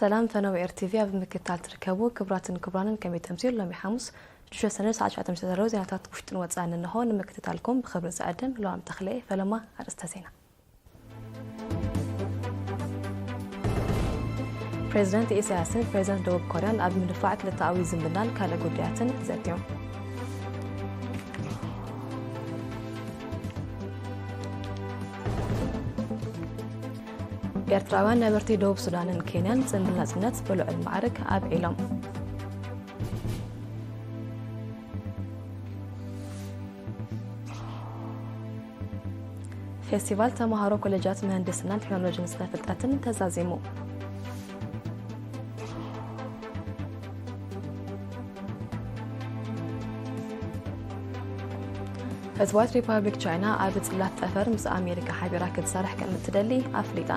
ሰላም ፈነው ኤር ቲቪ ኣብ ምክታል ትርከቡ ክብራትን ክብራንን ከመይ ተምሲል ሎሚ ሓሙስ ሽሸ ሰነ ሰዓት ሸዓተ ምሽተ ዘለዉ ዜናታት ውሽጥን ወፃእን እንሆ ንምክትታልኩም ብክብሪ ዝዕድም ለዋም ተኽለየ ፈለማ ኣርእስተ ዜና ፕሬዚደንት ኢሳያስን ፕሬዚደንት ደቡብ ኮርያን ኣብ ምድፋዕ ክልተኣዊ ዝምድናን ካልእ ጉዳያትን ዘትዮም ኤርትራውያን ነበርቲ ደቡብ ሱዳንን ኬንያን ጽምብል ናጽነት ብልዑል ማዕርግ ኣብዒሎም ፌስቲቫል ተምሃሮ ኮሌጃት ምህንድስናን ቴክኖሎጂን ስነ ፍልጠትን ተዛዚሙ። ህዝባዊት ሪፐብሊክ ቻይና ኣብ ጽላት ጠፈር ምስ ኣሜሪካ ሓቢራ ክትሰርሕ ከም እትደሊ ኣፍሊጣ።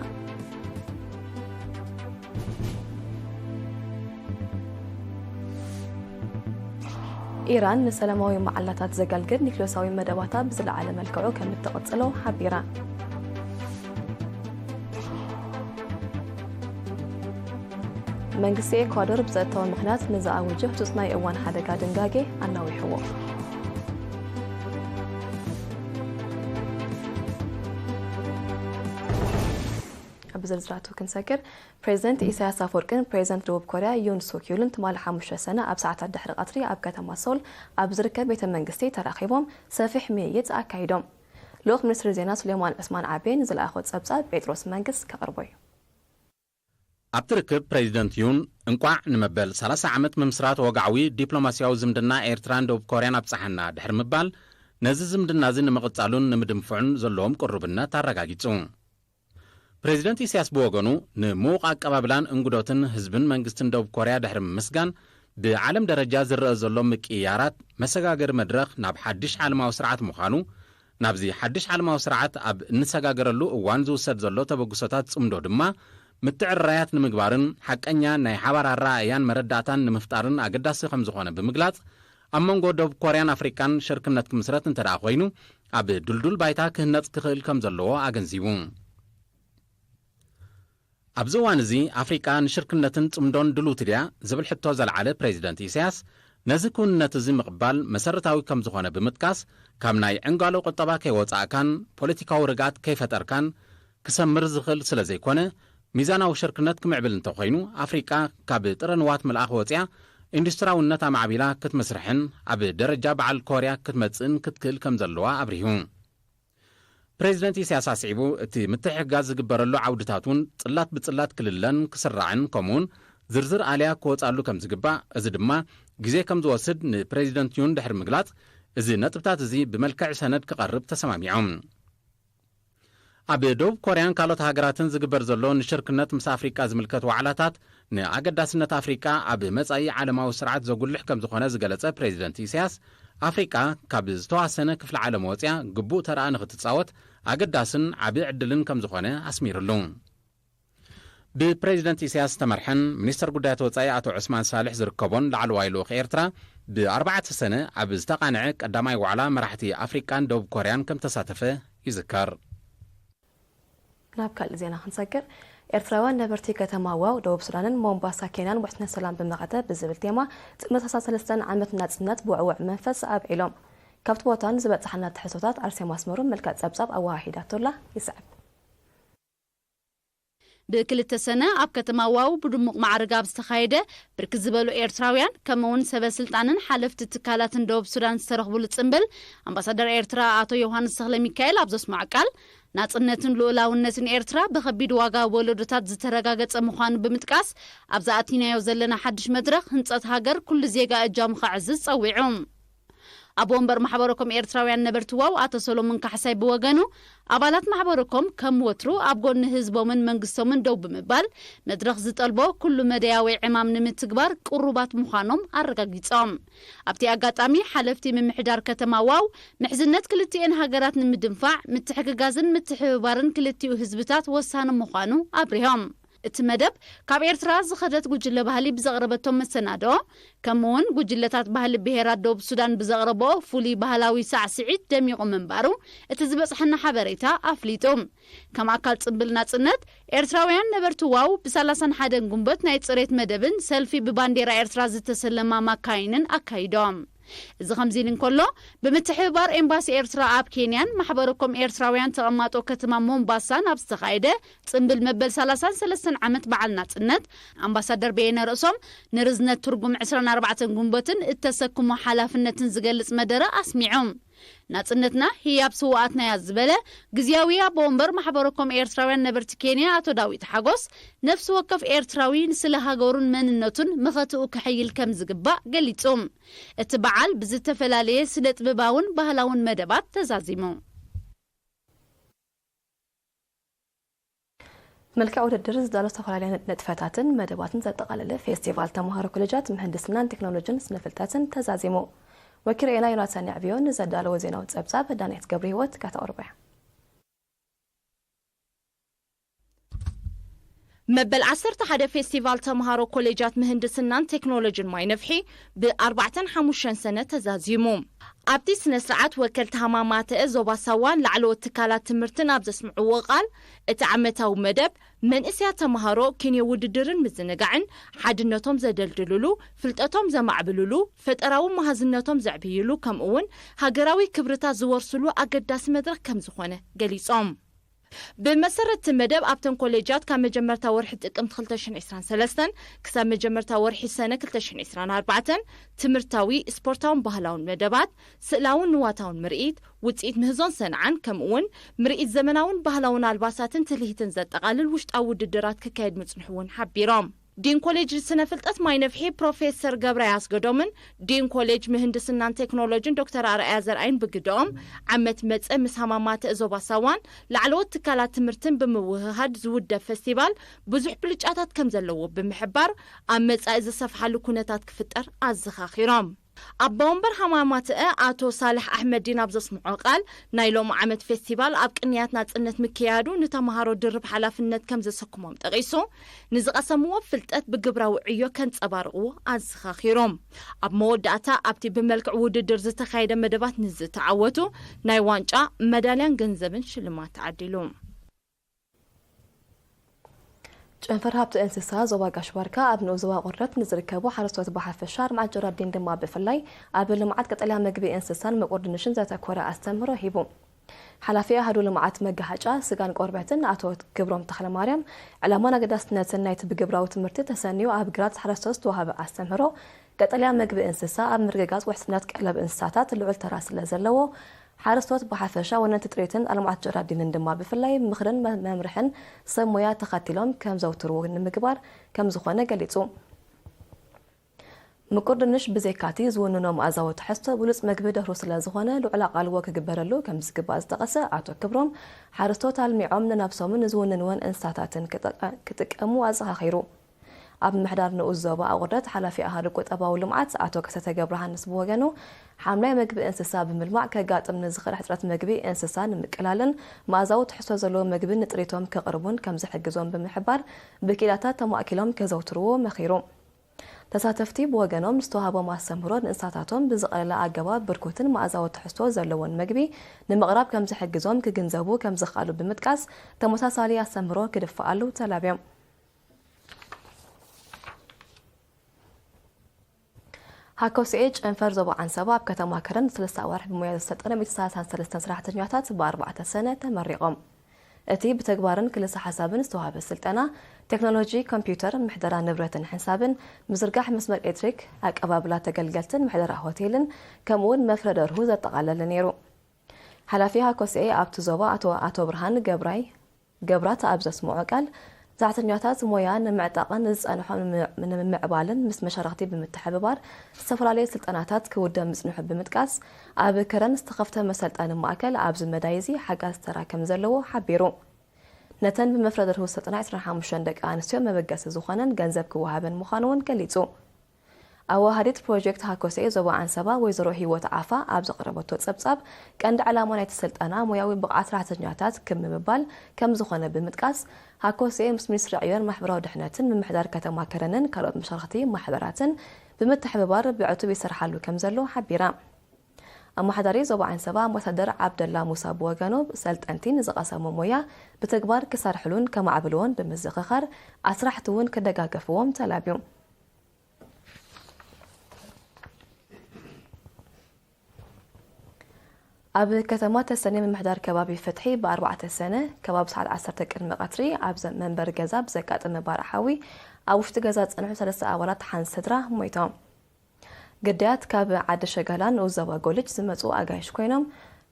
ኢራን ንሰላማዊ መዓላታት ዘገልግል ኒክሌሳዊ መደባታ ብዝለዓለ መልክዑ ከም እትቕጽሎ ሓቢራ መንግስቲ ኤኳዶር ብጸጥታዊ ምኽንያት ንዝኣወጀ ህጹጽ ናይ እዋን ሓደጋ ድንጋጌ ኣናዊሕዎ ኣብ ዝርዝራቱ ክንሰግር፣ ፕሬዚደንት ኢሳያስ ኣፍወርቂን ፕሬዚደንት ደቡብ ኮርያ ዩን ሱክ ዩልን ትማሊ ሓሙሽተ ሰነ ኣብ ሰዓታት ድሕሪ ቐትሪ ኣብ ከተማ ሶል ኣብ ዝርከብ ቤተ መንግስቲ ተራኺቦም ሰፊሕ ምይይጥ ኣካይዶም። ልኡኽ ሚኒስትሪ ዜና ሱሌማን ዑስማን ዓቤን ዝለኣኾ ጸብጻብ ጴጥሮስ መንግስ ከቕርቦ እዩ። ኣብቲ ርክብ ፕሬዚደንት ዩን እንቋዕ ንመበል ሰላሳ ዓመት ምምስራት ወግዓዊ ዲፕሎማሲያዊ ዝምድና ኤርትራን ደቡብ ኮርያን ኣብጽሓና ድሕሪ ምባል ነዚ ዝምድና'ዚ ንምቕጻሉን ንምድንፍዑን ዘለዎም ቅሩብነት ኣረጋጊጹ። ፕረዚደንት ኢሳያስ ብወገኑ፣ ንምዉቕ ኣቀባብላን እንግዶትን ህዝብን መንግስትን ደቡብ ኮርያ ድሕሪ ምምስጋን፣ ብዓለም ደረጃ ዝረኣ ዘሎ ምቅይያራት፣ መሰጋገሪ መድረኽ ናብ ሓድሽ ዓለማዊ ስርዓት ምዃኑ፣ ናብዚ ሓድሽ ዓለማዊ ስርዓት ኣብ እንሰጋገረሉ እዋን ዝውሰድ ዘሎ ተበግሶታት ጽምዶ ድማ ምትዕርራያት ንምግባርን ሓቀኛ ናይ ሓባር ኣረኣእያን መረዳእታን ንምፍጣርን ኣገዳሲ ከምዝኾነ ብምግላጽ፣ ኣብ መንጎ ደቡብ ኮርያን ኣፍሪቃን ሽርክነት ክምስረት እንተድኣ ኮይኑ ኣብ ድልዱል ባይታ ክህነጽ ክኽእል ከም ዘለዎ ኣገንዚቡ። ኣብዚ እዋን እዚ ኣፍሪቃ ንሽርክነትን ጽምዶን ድልውቲ ድያ ዝብል ሕቶ ዘልዓለ ፕሬዚደንት ኢሳያስ ነዚ ክውንነት እዚ ምቕባል መሰረታዊ ከም ዝኾነ ብምጥቃስ ካብ ናይ ዕንጋሎ ቁጠባ ከይወጻእካን ፖለቲካዊ ርግኣት ከይፈጠርካን ክሰምር ዝኽእል ስለ ዘይኮነ፣ ሚዛናዊ ሽርክነት ክምዕብል እንተ ኾይኑ፣ ኣፍሪቃ ካብ ጥረ ንዋት ምልኣኽ ወጺኣ ኢንዱስትራውነት ኣማዕቢላ ክትምስርሕን ኣብ ደረጃ በዓል ኮርያ ክትመጽእን ክትክእል ከም ዘለዋ ኣብሪሁ። ፕረዚደንት ኢሳያስ ኣስዒቡ፣ እቲ ምትሕግጋዝ ዝግበረሉ ዓውድታት እውን ጽላት ብጽላት ክልለን ክስራዕን ከምኡውን ዝርዝር ኣልያ ክወጻሉ ከም ዝግባእ፣ እዚ ድማ ግዜ ከም ዝወስድ ንፕረዚደንት ዩን ድሕሪ ምግላጽ፣ እዚ ነጥብታት እዚ ብመልክዕ ሰነድ ክቐርብ ተሰማሚዖም። ኣብ ደቡብ ኮርያን ካልኦት ሃገራትን ዝግበር ዘሎ ንሽርክነት ምስ ኣፍሪቃ ዝምልከት ዋዕላታት ንኣገዳስነት ኣፍሪቃ ኣብ መጻኢ ዓለማዊ ስርዓት ዘጉልሕ ከም ዝኾነ ዝገለጸ ፕሬዚደንት ኢሳያስ፣ ኣፍሪቃ ካብ ዝተዋሰነ ክፍሊ ዓለም ወጽያ ግቡእ ተራኣ ንኽትጻወት ኣገዳስን ዓቢ ዕድልን ከም ዝኾነ ኣስሚርሉ። ብፕረዚደንት ኢሳያስ ዝተመርሐን ሚኒስተር ጉዳያት ወጻኢ ኣቶ ዑስማን ሳልሕ ዝርከቦን ላዕለዋይ ልኡኽ ኤርትራ ብ ኣርባዕተ ሰነ ኣብ ዝተቓንዐ ቀዳማይ ዋዕላ መራሕቲ ኣፍሪቃን ደቡብ ኮርያን ከም ተሳተፈ ይዝከር። ናብ ካልእ ዜና ክንሰግር። ኤርትራውያን ነበርቲ ከተማ ዋው ደቡብ ሱዳንን ሞምባሳ ኬንያን ውሕስነት ሰላም ብመኸተ ብዝብል ቴማ ጥምረት ኣስታት ሰለስተን ዓመት ናጽነት ብውዕውዕ መንፈስ ኣብዒሎም። ካብቲ ቦታ ንዝበጻሓና ትሕዝቶታት ኣርሴማ ኣስመሮም መልክዕ ጸብጻብ ኣወሃሂዳቶላ ይስዕብ። ብክልተ ሰነ ኣብ ከተማ ዋው ብድሙቕ ማዕርግ ኣብ ዝተኻየደ፣ ብርክት ዝበሉ ኤርትራውያን ከምኡ'ውን ሰበስልጣንን ሓለፍቲ ትካላትን ደቡብ ሱዳን ዝተረኽቡሉ ጽምብል፣ ኣምባሳደር ኤርትራ ኣቶ ዮውሃንስ ተኽለሚካኤል ኣብ ዘስመዖ ቃል፣ ናጽነትን ልኡላውነትን ኤርትራ ብከቢድ ዋጋ ወለዶታት ዝተረጋገጸ ምዃኑ ብምጥቃስ፣ ኣብዚ ኣቲናዮ ዘለና ሓድሽ መድረኽ ህንጸት ሃገር ኩሉ ዜጋ እጃሙ ከዕዝዝ ጸዊዑ። ኣቦ ወንበር ማሕበረኮም ኤርትራውያን ነበርቲ ዋው ኣቶ ሰሎሙን ካሕሳይ ብወገኑ፣ ኣባላት ማሕበረኮም ከም ወትሩ ኣብ ጎኒ ህዝቦምን መንግስቶምን ደው ብምባል፣ መድረኽ ዝጠልቦ ኩሉ-መዳያዊ ዕማም ንምትግባር ቅሩባት ምዃኖም ኣረጋጊጾም። ኣብቲ ኣጋጣሚ፣ ሓለፍቲ ምምሕዳር ከተማ ዋው፣ ምሕዝነት ክልቲኤን ሃገራት ንምድንፋዕ፣ ምትሕግጋዝን ምትሕብባርን ክልቲኡ ህዝብታት ወሳኒ ምዃኑ ኣብሪሆም። እቲ መደብ ካብ ኤርትራ ዝኸደት ጉጅለ ባህሊ ብዘቕረበቶ መሰናድኦ ከምኡ'ውን ጉጅለታት ባህሊ ብሄራት ደቡብ ሱዳን ብዘቕረበኦ ፍሉይ ባህላዊ ሳዕስዒት ደሚቑ ምንባሩ እቲ ዝበጽሓና ሓበሬታ ኣፍሊጡ። ከም ኣካል ጽምብል ናጽነት፣ ኤርትራውያን ነበርቲ ዋው ብሳላሳን ሓደን ጉንበት ናይ ጽሬት መደብን ሰልፊ ብባንዴራ ኤርትራ ዝተሰለማ ማካይንን ኣካይዶም። እዚ ከምዚ ኢሊ እንከሎ፣ ብምትሕብባር ኤምባሲ ኤርትራ ኣብ ኬንያን ማሕበረ ኮም ኤርትራውያን ተቐማጦ ከተማ ሞምባሳን ኣብ ዝተኻየደ ጽምብል መበል ሰላሳን ሰለስተን ዓመት በዓል ናጽነት፣ ኣምባሳደር በየነ ርእሶም ንርዝነት ትርጉም ዕስራን ኣርባዕተን ጉንበትን እተሰክሞ ሓላፍነትን ዝገልጽ መደረ ኣስሚዖም። ናጽነትና ህያብ ስዉኣትና'ያ ዝበለ ግዝያዊ ኣቦ ወንበር ማሕበረ ኮም ኤርትራውያን ነበርቲ ኬንያ ኣቶ ዳዊት ሓጎስ፣ ነፍሲ ወከፍ ኤርትራዊ ንስለ ሃገሩን መንነቱን መኸትኡ ከሐይል ከም ዝግባእ ገሊጹ። እቲ በዓል ብዝተፈላለየ ስነጥብባውን ባህላውን መደባት ተዛዚሙ። መልክዕ ውድድር ዝዳሎ ዝተፈላለያ ንጥፈታትን መደባትን ዘጠቓለለ ፌስቲቫል ተምሃሮ ኮሌጃት ምህንድስናን ቴክኖሎጅን ስነ ፍልጠትን ተዛዚሙ። ወኪልኤና ዮናታን የዕብዮ ንዘዳለዎ ዜናዊ ጸብጻብ ዳንኤት ገብሪሂወት ከተቕርቦ እያ። መበል ዓሰርተ ሓደ ፌስቲቫል ተምሃሮ ኮሌጃት ምህንድስናን ቴክኖሎጅን ማይ ነፍሒ ብኣርባዕተን ሓሙሸን ሰነ ተዛዚሙ። ኣብቲ ስነ ስርዓት ወከልቲ ሃማማተ ዞባ ሳዋ ላዕለዎት ትካላት ትምህርትን ኣብ ዘስምዕዎ ቃል እቲ ዓመታዊ መደብ መንእሰያት ተምሃሮ ኪንዮ ውድድርን ምዝንጋዕን ሓድነቶም ዘደልድልሉ፣ ፍልጠቶም ዘማዕብልሉ፣ ፈጠራዊ መሃዝነቶም ዘዕብይሉ ከምኡ'ውን ሃገራዊ ክብርታት ዝወርስሉ ኣገዳሲ መድረኽ ከምዝኾነ ገሊፆም። ብመሰረት እቲ መደብ ኣብተን ኮሌጃት ካብ መጀመርታ ወርሒ ጥቅምቲ ክልተ ሽሕን ዕስራን ሰለስተን ክሳብ መጀመርታ ወርሒ ሰነ ክልተ ሽሕን ዕስራን ኣርባዕተን ትምህርታዊ፣ ስፖርታውን ባህላውን መደባት፣ ስእላውን ንዋታውን ምርኢት፣ ውፅኢት ምህዞን ሰንዓን ከምኡ እውን ምርኢት ዘመናውን ባህላውን ኣልባሳትን ትልሂትን ዘጠቓልል ውሽጣዊ ውድድራት ክካየድ ምፅንሑ እውን ሓቢሮም። ዲን ኮሌጅ ስነ ፍልጠት ማይነፍሒ ፕሮፌሰር ገብራይ ኣስገዶምን ዲን ኮሌጅ ምህንድስናን ቴክኖሎጅን ዶክተር ኣርኣያ ዘርኣይን ብግደኦም፣ ዓመት መጸ ምስ ሃማማተ ዞባ ሳዋን ላዕለዎት ትካላት ትምህርትን ብምውህሃድ ዝውደብ ፈስቲቫል ብዙሕ ብልጫታት ከምዘለዎ ብምሕባር፣ ኣብ መጻኢ ዝሰፍሓሉ ኩነታት ክፍጠር ኣዘኻኺሮም። ኣባ ወንበር ሃማማተኣ ኣቶ ሳልሕ ኣሕመዲን ኣብ ዘስምዖ ቃል፣ ናይ ሎሚ ዓመት ፌስቲቫል ኣብ ቅንያት ናጽነት ምክያዱ ንተመሃሮ ድርብ ሓላፍነት ከም ዘሰክሞም ጠቒሱ፣ ንዝቐሰምዎ ፍልጠት ብግብራዊ ዕዮ ከንጸባርቑ ኣዘኻኺሩ። ኣብ መወዳእታ ኣብቲ ብመልክዕ ውድድር ዝተኻየደ መደባት ንዝተዓወቱ ናይ ዋንጫ፣ መዳልያን ገንዘብን ሽልማት ተዓዲሉ። ጨንፈር ሃብቲ እንስሳ ዞባ ጋሽ ባርካ ኣብ ንኡስ ዞባ ቆርረት ንዝርከቡ ሓረስቶት ብሓፈሻ ኣርማጭ ጀራዲን ድማ ብፍላይ ኣብ ልምዓት ቀጠልያ ምግቢ እንስሳን ምቁር ድንሽን ዘተኮረ ኣስተምህሮ ሂቡ። ሓላፊ ኣሃዱ ልምዓት መጋሃጫ ስጋን ቆርበትን ኣቶ ክብሮም ተኽለማርያም ዕላማን ኣገዳስነትን ናይቲ ብግብራዊ ትምህርቲ ተሰንዩ ኣብ ግራት ሓረስቶት ዝተዋህበ ኣስተምህሮ ቀጠልያ ምግቢ እንስሳ ኣብ ምርግጋፅ ውሕስነት ቀለብ እንስሳታት ልዑል ተራ ስለዘለዎ ሓረስቶት ብሓፈሻ፣ ወነንቲ ጥሪትን ኣልማዕት ጀራዲንን ድማ ብፍላይ ምኽርን መምርሕን ሰብ ሞያ ተኸቲሎም ከምዘውትሩ ንምግባር ከምዝኾነ ገሊፁ። ምቁር ድንሽ ብዘይካቲ ዝውንኖ መኣዛዊ ትሕዝቶ ብሉፅ ምግቢ ደርሁ ስለዝኾነ ልዑል ኣቓልቦ ክግበረሉ ከምዝግባእ ዝጠቐሰ ኣቶ ክብሮም፣ ሓረስቶት ኣልሚዖም ንነብሶምን ንዝውንንወን እንስሳታትን ክጥቀሙ ኣዘኻኺሩ። ኣብ ምምሕዳር ንኡስ ዞባ ኣቑርደት ሓላፊ ኣሃዱ ቁጠባዊ ልምዓት ኣቶ ከሰተ ገብረሃንስ ብወገኑ፣ ሓምላይ መግቢ እንስሳ ብምልማዕ ከጋጥም ንዝኽእል ሕጽረት መግቢ እንስሳ ንምቅላልን መኣዛዊ ትሕዝቶ ዘለዎ መግቢ ንጥሪቶም ከቕርቡን ከምዝሕግዞም ብምሕባር፣ ብኪኢላታት ተማእኪሎም ከዘውትርዎ መኺሩ። ተሳተፍቲ ብወገኖም፣ ዝተዋህቦም ኣስተምህሮ ንእንስሳታቶም ብዝቐለለ ኣገባብ ብርኩትን መኣዛዊ ትሕዝቶ ዘለዎን መግቢ ንምቕራብ ከምዝሕግዞም ክግንዘቡ ከምዝኸኣሉ ብምጥቃስ፣ ተመሳሳሊ ኣስተምህሮ ክድፋኣሉ ተላብዮም። ሃከውስኤ ጨንፈር ዞባ ዓንሰባ ኣብ ከተማ ከረን ንሰለስተ ኣዋርሕ ብሞያ ዘሰልጠነ ሚእቲ ሰላሳን ሰለስተን ሰራሕተኛታት ብኣርባዕተ ሰነ ተመሪቖም። እቲ ብተግባርን ክልሰ ሓሳብን ዝተዋህበ ስልጠና፣ ቴክኖሎጂ ኮምፒዩተር፣ ምሕደራ ንብረትን ሕንሳብን፣ ምዝርጋሕ መስመር ኤሌክትሪክ፣ ኣቀባብላ ተገልገልትን ምሕደራ ሆቴልን ከምኡ'ውን መፍረ ደርሁ ዘጠቓለለ ነይሩ። ሓላፊ ሃከውስኤ ኣብቲ ዞባ ኣቶ ኣቶ ብርሃን ገብራይ፣ ገብራት ኣብ ዘስመዖ ቃል፣ ጸዕተኛታት ሞያ ንምዕጣቕን ዝጸንሖ ንምምዕባልን ምስ መሻርኽቲ ብምትሕብባር ዝተፈላለየ ስልጠናታት ክውደብ ምጽንሑ ብምጥቃስ፣ ኣብ ከረን ዝተኸፍተ መሰልጠኒ ማእከል ኣብዚ መዳይ'ዚ ሓጋዚ ተራ ከምዘለዎ ሓቢሩ። ነተን ብመፍረ ደርሁ ዝተጠና ዕስራን ሓሙሽተን ደቂ ኣንስትዮ መበገሲ ዝኾነን ገንዘብ ክወሃበን ምዃኑ'ውን ገሊጹ። ኣወሃሃዲት ፕሮጀክት ሃኮሴ ዞባ ዓንሰባ ወይዘሮ ሂወት ዓፋ ኣብ ዘቕረበቶ ጸብጻብ፣ ቀንዲ ዕላማ ናይቲ ስልጠና ሞያዊ ብቕዓት ሰራሕተኛታት ክብ ንምባል ከምዝኾነ ብምጥቃስ፣ ሃኮሴ ምስ ሚኒስትሪ ዕዮን ማሕበራዊ ድሕነትን ምምሕዳር ከተማ ከረንን ካልኦት መሻርኽቲ ማሕበራትን ብምትሕብባር ብዕቱብ ይሰርሓሉ ከምዘሎ ሓቢራ። ኣመሓዳሪ ዞባ ዓንሰባ ኣምባሳደር ዓብደላ ሙሳ ብወገኑ፣ ሰልጠንቲ ንዝቐሰሞ ሞያ ብተግባር ክሰርሕሉን ከማዕብልዎን ብምዝኽኻር፣ ኣስራሕቲ'ውን ክደጋገፍዎም ተላብዩ። ኣብ ከተማ ተሰነይ ምምሕዳር ከባቢ ፍትሒ ብኣርባዕተ ሰነ ከባቢ ሰዓት ዓሰርተ ቅድሚ ቀትሪ ኣብ መንበሪ ገዛ ብዘጋጠመ ባርዕ ሓዊ ኣብ ውሽጢ ገዛ ዝጸንሑ ሰለስተ ኣባላት ሓንቲ ስድራ ሞይቶም። ግዳያት ካብ ዓዲ ሸጋላን ንኡስ ዞባ ጎልጅ ዝመጹ ኣጋይሽ ኮይኖም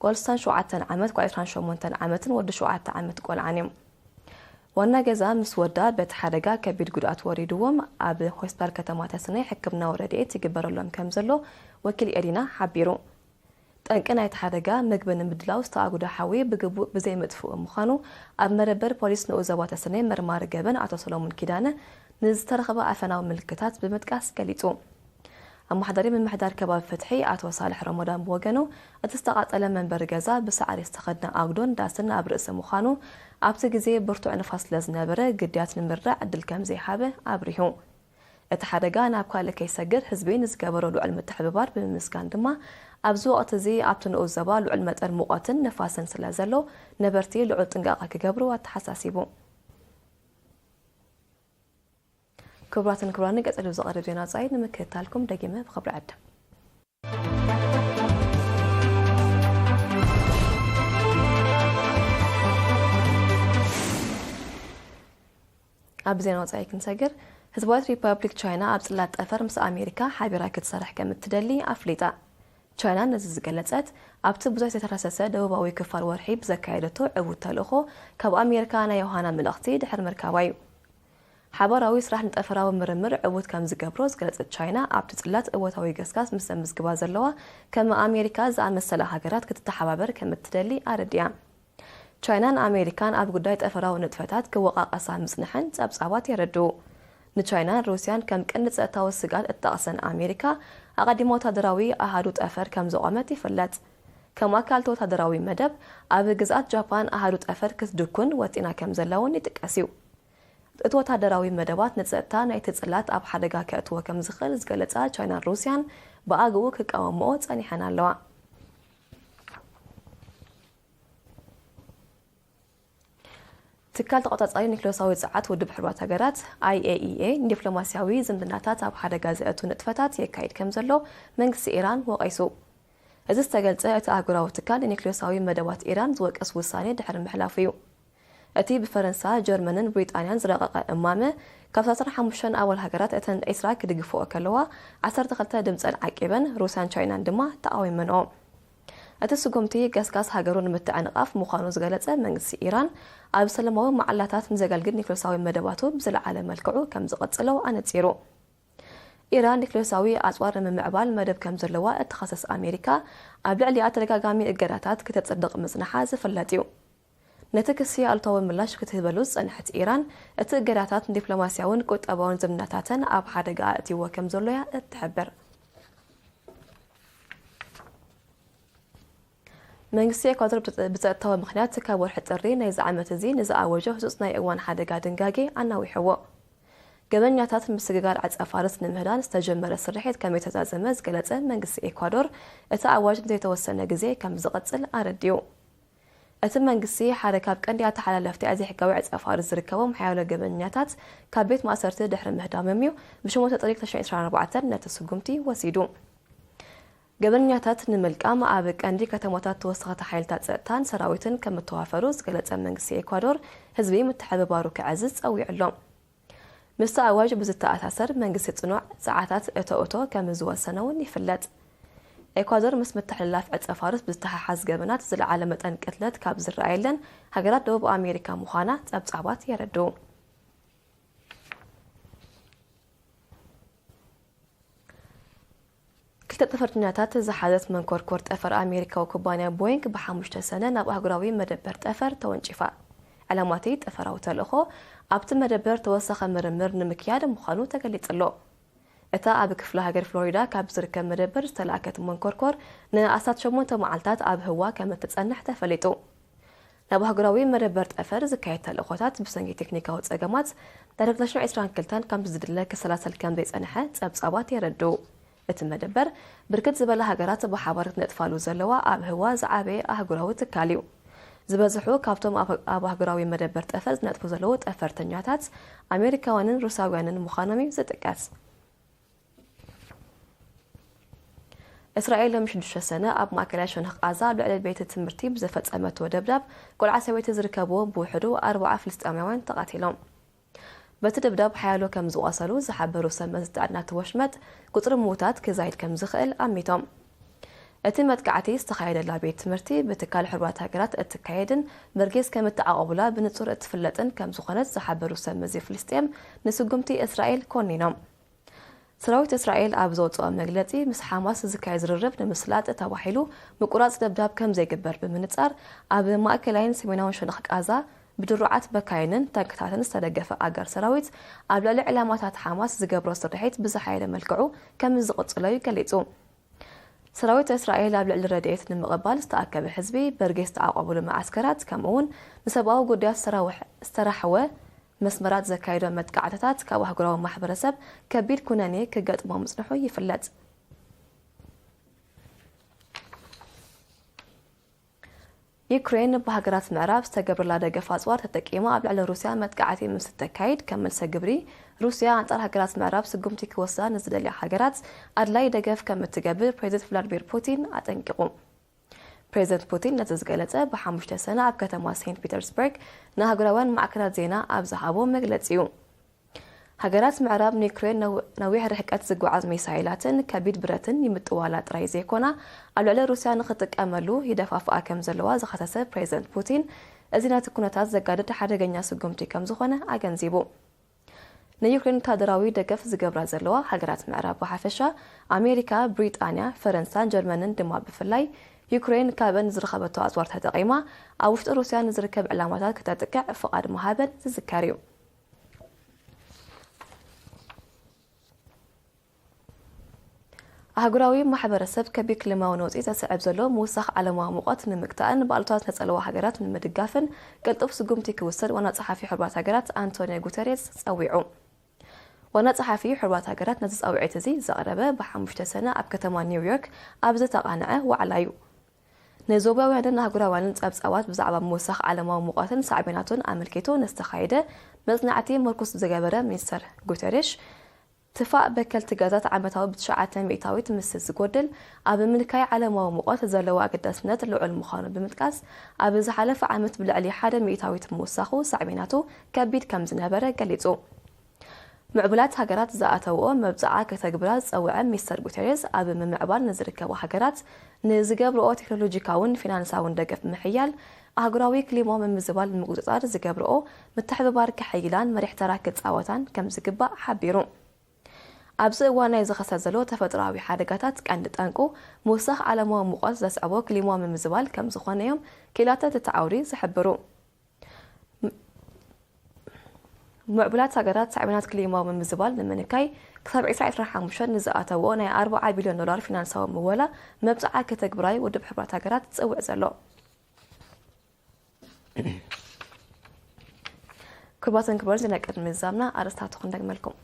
ጓል ስሳን ሸውዓተን ዓመት ጓል ዕስራን ሸሞንተን ዓመትን ወዲ ሸውዓተ ዓመት ቆልዓን እዮም። ዋና ገዛ ምስ ወዳ በቲ ሓደጋ ከቢድ ጉድኣት ወሪድዎም ኣብ ሆስፒታል ከተማ ተስነይ ሕክምናዊ ረድኤት ይግበረሎም ከምዘሎ ወኪል ኤሪና ሓቢሩ። ጠንቂ ናይቲ ሓደጋ ምግቢ ንምድላው ዝተኣጉደ ሓዊ ብግቡእ ብዘይምጥፍኡ ምዃኑ ኣብ መደበር ፖሊስ ንኡስ ዞባ ተስነይ መርማሪ ገበን ኣቶ ሰሎሙን ኪዳነ ንዝተረኽበ ኣፈናዊ ምልክታት ብምጥቃስ ገሊጹ። ኣማሓዳሪ ምምሕዳር ከባቢ ፍትሒ ኣቶ ሳልሕ ሮሞዳን ብወገኑ፣ እቲ ዝተቓፀለ መንበሪ ገዛ ብሳዕሪ ዝተኸድነ ኣጉዶን ዳስን ኣብ ርእሲ ምዃኑ ኣብቲ ግዜ ብርቱዕ ንፋስ ስለዝነበረ ግድያት ንምርዳእ ዕድል ከምዘይሃበ ኣብሪሁ። እቲ ሓደጋ ናብ ካልእ ከይሰግር ህዝቢ ንዝገበሮ ልዑል ምትሕብባር ብምምስጋን ድማ ኣብዚ ወቕቲ እዚ ኣብቲ ንኡስ ዞባ ልዑል መጠን ሙቐትን ንፋስን ስለዘሎ ነበርቲ ልዑል ጥንቃቐ ክገብሩ ኣተሓሳሲቡ። ክቡራትን ክቡራንን ቀጺሉ ዝቐርብ ዜና ወጻኢ ንምክትታልኩም ደጊመ ብኽብሪ ዕድም። ኣብ ዜና ወጻኢ ክንሰግር ህዝባዊት ሪፐብሊክ ቻይና ኣብ ጽላት ጠፈር ምስ ኣሜሪካ ሓቢራ ክትሰርሕ ከም እትደሊ ኣፍሊጣ። ቻይና ነዚ ዝገለጸት ኣብቲ ብዙሕ ዝተረሰሰ ደቡባዊ ክፋል ወርሒ ብዘካየደቶ ዕዉት ተልእኾ ካብ ኣሜሪካ ናይ ዮሃና መልእኽቲ ድሕሪ ምርካባ እዩ። ሓባራዊ ስራሕ ንጠፈራዊ ምርምር ዕዉት ከም ዝገብሮ ዝገለጸት ቻይና፣ ኣብቲ ጽላት እወታዊ ገስጋስ ምስ ዘምዝግባ ዘለዋ ከም ኣሜሪካ ዝኣመሰላ ሃገራት ክትተሓባበር ከም እትደሊ ኣረዲኣ። ቻይናን ኣሜሪካን ኣብ ጉዳይ ጠፈራዊ ንጥፈታት ክወቓቐሳ ምጽንሐን ጸብጻባት የረድኡ። ንቻይናን ሩስያን ከም ቀንዲ ጸጥታዊ ስግኣት እትጠቕሰን ኣሜሪካ፣ ኣቐዲማ ወተሃደራዊ ኣሃዱ ጠፈር ከም ዘቖመት ይፍለጥ። ከም ኣካል'ቲ ወተሃደራዊ መደብ፣ ኣብ ግዝኣት ጃፓን ኣሃዱ ጠፈር ክትድኩን ወጢና ከም ዘላ'ውን ይጥቀስ'ዩ። እቲ ወታደራዊ መደባት ንጸጥታ ናይቲ ጽላት ኣብ ሓደጋ ከእትዎ ከም ዝኽእል ዝገለጻ ቻይናን ሩስያን ብኣግኡ ክቃወምኦ ጸኒሐን ኣለዋ። ትካል ተቖጻጻሪ ኒክለሳዊ ጸዓት ውድብ ሕቡራት ሃገራት፣ IAEA፣ ንዲፕሎማስያዊ ዝምድናታት ኣብ ሓደጋ ዘእቱ ንጥፈታት የካይድ ከም ዘሎ መንግስቲ ኢራን ወቒሱ። እዚ ዝተገልጸ እቲ ኣህጉራዊ ትካል ንኒክለሳዊ መደባት ኢራን ዝወቅስ ውሳኔ ድሕሪ ምሕላፉ'ዩ። እቲ ብፈረንሳ፣ ጀርመንን ብሪጣንያን ዝረቐቐ እማመ፣ ካብ ዓሰርተ ሓሙሽተ ኣባል ሃገራት እተን ዕስራ ክድግፍኦ ከለዋ፣ ዓሰርተ ክልተ ድምጸን ዓቂበን፣ ሩስያን ቻይናን ድማ ተቓዊመንኦ። እቲ ስጉምቲ፣ ገስጋስ ሃገሩ ንምትዕንቓፍ ምዃኑ ዝገለጸ መንግስቲ ኢራን፣ ኣብ ሰለማዊ መዓላታት ንዘገልግል ኒክልዮሳዊ መደባቱ ብዝለዓለ መልክዑ ከም ዝቕጽሎ ኣነጺሩ። ኢራን ኒክልዮሳዊ ኣጽዋር ንምምዕባል መደብ ከም ዘለዋ እትኸሰስ ኣሜሪካ፣ ኣብ ልዕሊኣ ተደጋጋሚ እገዳታት ክተጽድቕ ምጽንሓ ዝፍለጥ'ዩ። ነቲ ክሲ ኣሉታዊ ምላሽ ክትህበሉ ዝጸንሐት ኢራን፣ እቲ እገዳታት ንዲፕሎማስያውን ቁጠባውን ዝምድናታተን ኣብ ሓደጋ ኣእትይዎ ከምዘሎ'ያ እትሕብር። መንግስቲ ኤኳዶር ብጸጥታዊ ምኽንያት ካብ ወርሒ ጥሪ ናይዚ ዓመት'ዚ ንዝኣወጆ ህጹጽ ናይ እዋን ሓደጋ ድንጋጌ ኣናዊሕዎ። ገበኛታት ምስግጋር ዕጸፋርስ ንምህዳን ዝተጀመረ ስርሒት ከምእተዛዘመ ዝገለጸ መንግስቲ ኤኳዶር፣ እቲ ኣዋጅ ንዘይተወሰነ ግዜ ከምዝቕጽል ኣረዲኡ። እቲ መንግስቲ ሓደ ካብ ቀንዲ ኣተሓላለፍቲ ኣይዘሕጋዊ ዕጸፋርስ ዝርከቦም ሓያሎ ገበነኛታት ካብ ቤት ማእሰርቲ ድሕሪ ምህዳሞም'ዩ ብሸሞንተ ጥሪ ክልተ ሽሕን ዕስራን ኣርባዕተን ነቲ ስጉምቲ ወሲዱ። ገበነኛታት ንምልቃም ኣብ ቀንዲ ከተማታት ተወሰኸቲ ሓይልታት ጸጥታን ሰራዊትን ከምእተዋፈሩ ዝገለጸ መንግስቲ ኤኳዶር፣ ህዝቢ ምትሕብባሩ ከዐዝዝ ጸዊዑ'ሎ። ምስቲ ኣዋጅ ብዝተኣሳሰር መንግስቲ ጽኑዕ ጸዓታት እቶ እቶ ከምዝወሰነ'ውን ይፍለጥ። ኤኳዶር ምስ ምትሕልላፍ ዕጸፋርስ ብዝተሓሓዝ ገበናት ዝለዓለ መጠን ቅትለት ካብ ዝረኣየለን ሃገራት ደቡብ ኣሜሪካ ምዃና ጸብጻባት የረድኡ። ክልተ ጠፈርተኛታት ዝሓዘት መንኮርኮር ጠፈር ኣሜሪካዊ ኩባንያ ቦይንግ ብሓሙሽተ ሰነ ናብ ኣህጉራዊ መደበር ጠፈር ተወንጪፋ። ዕላማ'ቲ ጠፈራዊ ተልእኾ ኣብቲ መደበር ተወሳኺ ምርምር ንምክያድ ምዃኑ ተገሊጹ'ሎ። እታ ኣብ ክፍለ ሃገር ፍሎሪዳ ካብ ዝርከብ መደበር ዝተላእከት መንኮርኮር ንኣስታት ሸሞንተ መዓልታት ኣብ ህዋ ከም እትጸንሕ ተፈሊጡ። ናብ ኣህጉራዊ መደበር ጠፈር ዝካየድ ተልእኾታት ብሰንኪ ቴክኒካዊ ጸገማት ዳርጋ ክልተ ሽሕ ዕስራን ክልተን ከምቲ ዝድለ ክሰላሰል ከምዘይጸንሐ ጸብጻባት የረድኡ። እቲ መደበር ብርክት ዝበላ ሃገራት ብሓባር ክነጥፋሉ ዘለዋ ኣብ ህዋ ዝዓበየ ኣህጉራዊ ትካል እዩ። ዝበዝሑ ካብቶም ኣብ ኣህጉራዊ መደበር ጠፈር ዝነጥፉ ዘለዉ ጠፈርተኛታት ኣሜሪካውያንን ሩስያውያንን ምዃኖም እዩ ዝጥቀስ። እስራኤል ሎሚ ሽዱሽተ ሰነ ኣብ ማእከላይ ሸነኽ ቓዛ ኣብ ልዕሊ ቤት ትምህርቲ ብዘፈጸመቶ ደብዳብ ቆልዓ ሰበይቲ ዝርከብዎም ብውሕዱ ኣርብዓ ፍልስጤማውያን ተቓቲሎም። በቲ ደብዳብ ሓያሎ ከም ዝቖሰሉ ዝሓበሩ ሰብመዚ ጥዕና'ቲ ወሽመጥ፣ ቁጽሪ ምዉታት ክዛይድ ከም ዝኽእል ኣሚቶም። እቲ መጥቃዕቲ ዝተኻየደላ ቤት ትምህርቲ ብትካል ሕቡራት ሃገራት እትካየድን ብርጌስ ከም እተዓቖቡላ ብንጹር እትፍለጥን ከም ዝኾነት ዝሓበሩ ሰብ መዚ ፍልስጤም ንስጉምቲ እስራኤል ኮኒኖም። ሰራዊት እስራኤል ኣብ ዘውጽኦ መግለጺ ምስ ሓማስ ዝካየድ ዝርርብ ንምስላጥ ተባሂሉ ምቁራጽ ደብዳብ ከም ዘይግበር ብምንጻር ኣብ ማእከላይን ሰሜናውን ሸነኽ ቃዛ ብድሩዓት በካይንን ታንክታትን ዝተደገፈ ኣጋር ሰራዊት፣ ኣብ ልዕሊ ዕላማታት ሓማስ ዝገብሮ ስርሒት ብዝሓየለ መልክዑ ከምዝቕጽሎ'ዩ ገሊጹ። ሰራዊት እስራኤል ኣብ ልዕሊ ረድኤት ንምቕባል ዝተኣከበ ህዝቢ፣ በርጌስ ዝተዓቖቡሉ መዓስከራት፣ ከምኡ'ውን ንሰብኣዊ ጉዳያት ዝተራሕወ መስመራት ዘካየዶ መጥቃዕትታት ካብ ኣህጉራዊ ማሕበረሰብ ከቢድ ኩነኔ ክገጥሞ ምጽንሑ ይፍለጥ። ዩክሬን ብሃገራት ምዕራብ ዝተገብረላ ደገፍ ኣጽዋር ተጠቂማ ኣብ ልዕሊ ሩስያ መጥቃዕቲ ምስ እተካይድ ከም መልሰ ግብሪ ሩስያ ኣንጻር ሃገራት ምዕራብ ስጉምቲ ክወስዳ ንዝደልያ ሃገራት ኣድላዪ ደገፍ ከም እትገብር ፕሬዚደንት ቭላድሚር ፑቲን ኣጠንቂቑ። ፕሬዚደንት ፑቲን ነዚ ዝገለጸ ብሓሙሽተ ሰነ ኣብ ከተማ ሴንት ፒተርስበርግ ንኣህጉራውያን ማዕከናት ዜና ኣብ ዝሃቦ መግለጺ'ዩ። ሃገራት ምዕራብ ንዩክሬን ነዊሕ ርሕቀት ዝጓዓዝ ሚሳይላትን ከቢድ ብረትን ይምጥዋላ ጥራይ ዘይኮና ኣብ ልዕሊ ሩስያ ንኽትጥቀመሉ ይደፋፍኣ ከም ዘለዋ ዝኸሰሰ ፕሬዝደንት ፑቲን እዚ ነቲ ኩነታት ዘጋድድ ሓደገኛ ስጉምቲ ከም ዝኾነ ኣገንዚቡ። ንዩክሬን ወተሃደራዊ ደገፍ ዝገብራ ዘለዋ ሃገራት ምዕራብ ብሓፈሻ፣ ኣሜሪካ፣ ብሪጣንያ፣ ፈረንሳን ጀርመንን ድማ ብፍላይ፣ ዩክሬን ካብን ንዝረኸበቶ ኣጽዋር ተጠቒማ ኣብ ውሽጢ ሩስያ ንዝርከብ ዕላማታት ከተጥቅዕ ፍቓድ ምሃበን ዝዝከር እዩ። ኣህጉራዊ ማሕበረሰብ ከቢድ ክሊማዊ ነውጺ ዘስዕብ ዘሎ ምውሳኽ ዓለማዊ ሙቐት ንምግታእን ብኣሉታ ዝተጸልዋ ሃገራት ንምድጋፍን ቅልጡፍ ስጉምቲ ክውሰድ ዋና ጸሓፊ ሕቡራት ሃገራት ኣንቶንዮ ጉተሬዝ ጸዊዑ። ዋና ጸሓፊ ሕቡራት ሃገራት ነዚ ጻውዒት እዚ ዘቕረበ ብሓሙሽተ ሰነ ኣብ ከተማ ኒውዮርክ ኣብ ዝተቓንዐ ዋዕላ እዩ። ንዞባውያንን ኣህጉራውያንን ጸብጻባት ብዛዕባ ምውሳኽ ዓለማዊ ሙቐትን ሳዕቤናቱን ኣመልኪቱ ንዝተኻየደ መጽናዕቲ ምርኩስ ዝገበረ ሚኒስተር ጉተሬሽ፣ ትፋእ በከልቲ ጋዛት ዓመታዊ ብትሽዓተ ሚእታዊት ምስ ዝጎድል ኣብ ምንካይ ዓለማዊ ሙቐት ዘለዎ ኣገዳስነት ልዑል ምዃኑ ብምጥቃስ፣ ኣብ ዝሓለፈ ዓመት ብልዕሊ ሓደ ሚእታዊት ምውሳኹ ሳዕቤናቱ ከቢድ ከምዝነበረ ገሊጹ። ምዕቡላት ሃገራት ዝኣተውኦ መብጽዓ ከተግብራ ዝጸውዐ ሚስተር ጉተሬዝ፣ ኣብ ምምዕባል ንዝርከባ ሃገራት ንዝገብርኦ ቴክኖሎጂካውን ፊናንሳውን ደገፍ ብምሕያል፣ ኣህጉራዊ ክሊማዊ ምምዝባል ንምቁጽጻር ዝገብርኦ ምትሕብባር ከሐይላን መሪሕ ተራ ክጻወታን ከምዝግባእ ሓቢሩ። ኣብዚ እዋን ናይ ዝኸሰት ዘሎ ተፈጥሮኣዊ ሓደጋታት ቀንዲ ጠንቁ ምውሳኽ ዓለማዊ ሙቐት ዘስዕቦ ክሊማዊ ምምዝባል ከምዝኾነ'ዮም ክኢላታት እቲ ዓውዲ ዝሕብሩ። ምዕቡላት ሃገራት ሳዕቤናት ክሊማዊ ምምዝባል ንምንካይ ክሳብ ዕስራ ዕስራን ሓሙሽተን ንዝኣተውኦ ናይ ኣርብዓ ቢልዮን ዶላር ፊናንሳዊ ምወላ መብጽዓ ከተግብራ'ዩ ውድብ ሕቡራት ሃገራት ዝጽውዕ ዘሎ። ክቡራትን ክቡራን ዜና ቅድሚ ምዝዛምና ኣርእስታቱ ክንደግመልኩም።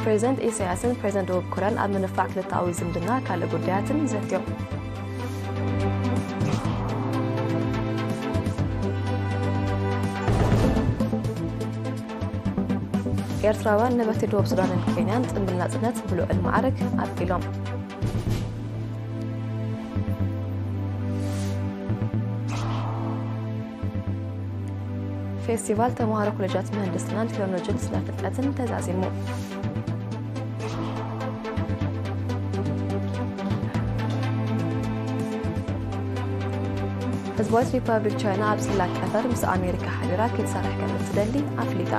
ፕሬዚደንት ኢሳያስን ፕሬዚደንት ደቡብ ኮርያን ኣብ ምንፋዕ ክልተኣዊ ዝምድና ካልእ ጉዳያትን ዘትዮም። ኤርትራውያን ነበርቲ ደቡብ ሱዳንን ኬንያን ጽምብል ናጽነት ብልዑል ማዕርግ ኣቢሎም። ፌስቲቫል ተምሃሮ ኮሌጃት ምህንድስናን ቴክኖሎጂን ስነ ፍልጠትን ተዛዚሙ ህዝባዊት ሪፐብሊክ ቻይና ኣብ ጽላት ጠፈር ምስ ኣሜሪካ ሓቢራ ክትሰርሕ ከም እትደሊ ኣፍሊጣ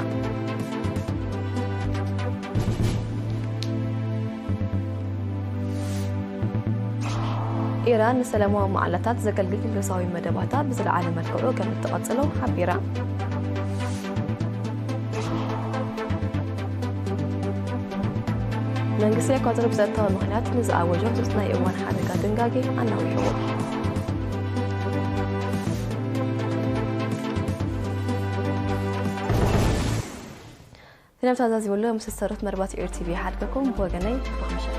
ኢራን ንሰለማዊ መዓላታት ዘገልግል ዲፕሎማስያዊ መደባታ ብዝለዓለ መልክዑ ከም እትቐጽሎ ሓቢራ። መንግስቲ ኤኳዶር ብጸጥታዊ ምኽንያት ንዝኣወጆ ህጹጽ ናይ እዋን ሓደጋ ድንጋጌ ኣናዊሕዎ ፊልም ተዛዚቡሉ ምስ ሰሩት መርባት ኤሪ ቲቪ ይሓድገኩም ብወገነይ ጽቡቕ ምሸት።